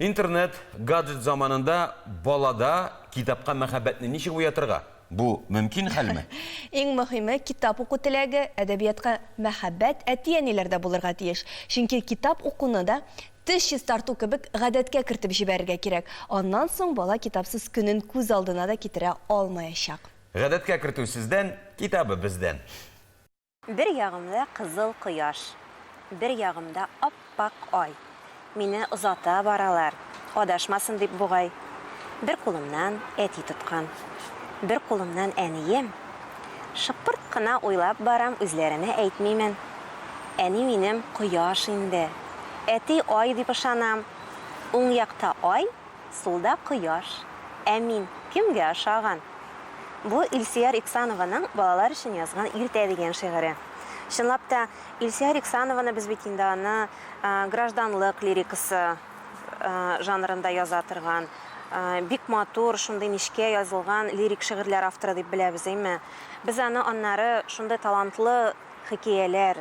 Интернет, гаджет заманында балада китапка мәхәббәтне ничек уятырга? Бу мөмкин хәлме? Иң мөһиме, китап уку теләге, әдәбиятка мәхәббәт әти-әниләрдә булырга тиеш. Чөнки китап укуны да, теш чистарту кебек, гадәткә кертеп җибәрергә кирәк. Аннан соң бала китапсыз көнен күз алдына да китерә алмаячак. Гадәткә кертү сездән, китабы бездән. Бер ягымда кызыл кояш, Бер ягымда ап-пак ай. Мине озата баралар, Адашмасын дип бугай. Бер кулымнан әти тоткан, Бер кулымнан әнием. Шыпырт кына уйлап барам, Үзләренә әйтмимен. Әни минем кояш инде, Әти ай дип ышанам. Уң якта ай. сулда кояш, ә мин кемгә ошаган? Бу Илсөяр Иксанованың балалар өчен язган Иртә дигән шигыре. Чынлап та, Илсөяр Иксанованы без бит инде аны гражданлык лирикасы жанрында яза торган, бик матур, шундый нечкә язылган лирик шигырьләр авторы дип беләбез, әйме? Без аны аннары шундый талантлы хикәяләр,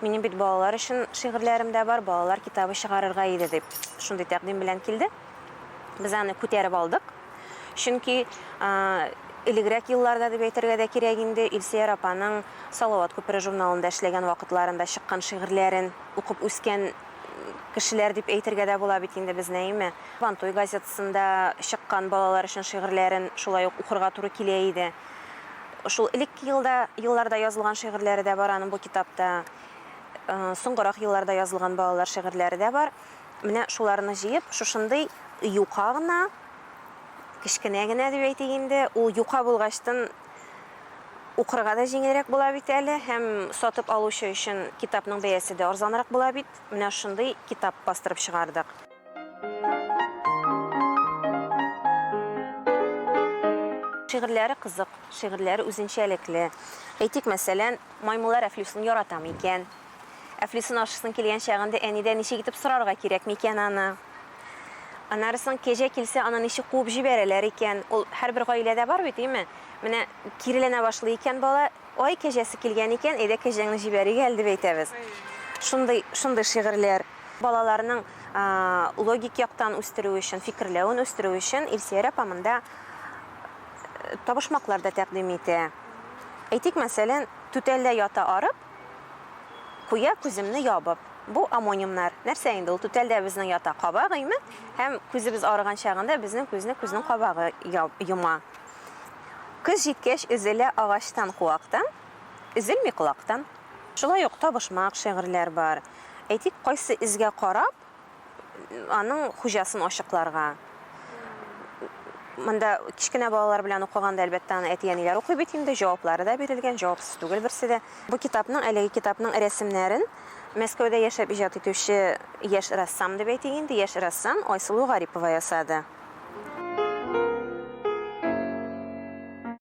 Минем бит балалар өчен шигырьләрем дә бар, балалар китабы чыгарырга иде, дип, шундый тәкъдим белән килде. Без аны күтәреп алдык. Чөнки элегрәк елларда дип әйтергә дә кирәк инде, Илсөяр апаның Салават күпере журналында эшләгән вакытларында чыккан шигырьләрен укып үскән кешеләр дип әйтергә дә була бит инде без Нәиме. Вантуй газетасында чыккан балалар өчен шигырьләрен шулай ук укырга туры килә иде. Шул элекке елда, елларда язылган шигырьләре дә бар аның бу китапта. Соңгырак елларда язылган балалар шигырьләре дә бар. Менә шуларны җыеп, шушындый юка гына, кечкенә генә дип әйтик инде, ул юка булгачтын укырга да җиңелрәк була бит әле һәм сатып алучы өчен китапның бәясе дә арзанрак була бит. Менә шундый китап бастырып чыгардык. Шигырьләре кызык, шигырьләре үзенчәлекле. Әйтик, мәсәлән, маймыллар Әфлисун яратам икән. Әфлисун ашысын килгән чагында әнидә ничек итеп сорарга кирәк микән аны? Анарысын кәҗә килсә, аны ничек куып җибәрәләр икән? Ул һәрбер гаиләдә бар бит, име? Менә киреләнә башлый икән бала, Ай, кәҗәсе килгән икән, әйдә кәҗәңне җибәрик әле, дип әйтәбез. Шундый, шундый шигырьләр. Балаларның логик яктан үстерү өчен, фикерләвен үстерү өчен Илсөяр апа монда табышмаклар да тәкъдим итә. Әйтик, мәсәлән, түтәлдә ята арып, куя күземне ябып. Бу омонимнар. Нәрсә инде ул? Түтәлдә безнең ята кабак, име? Һәм күзебез арыган чагында безнең күзне күзнең кабагы йома. Көз җиткәч өзелә агачтан куактан, Өзелми колактан. Шулай ук табышмак шигырьләр бар. Әйтик, кайсы эзгә карап, аның хуҗасын ачыкларга. Монда кечкенә балалар белән укыганда, әлбәттә, аны әти-әниләр укый бит инде, җаваплары да бирелгән, җавапсыз түгел берсе дә. Бу китапның, әлеге китапның рәсемнәрен Мәскәүдә яшәп иҗат итүче яшь рәссам дип әйтик инде, яшь рәссам Айсылу Гарипова ясады.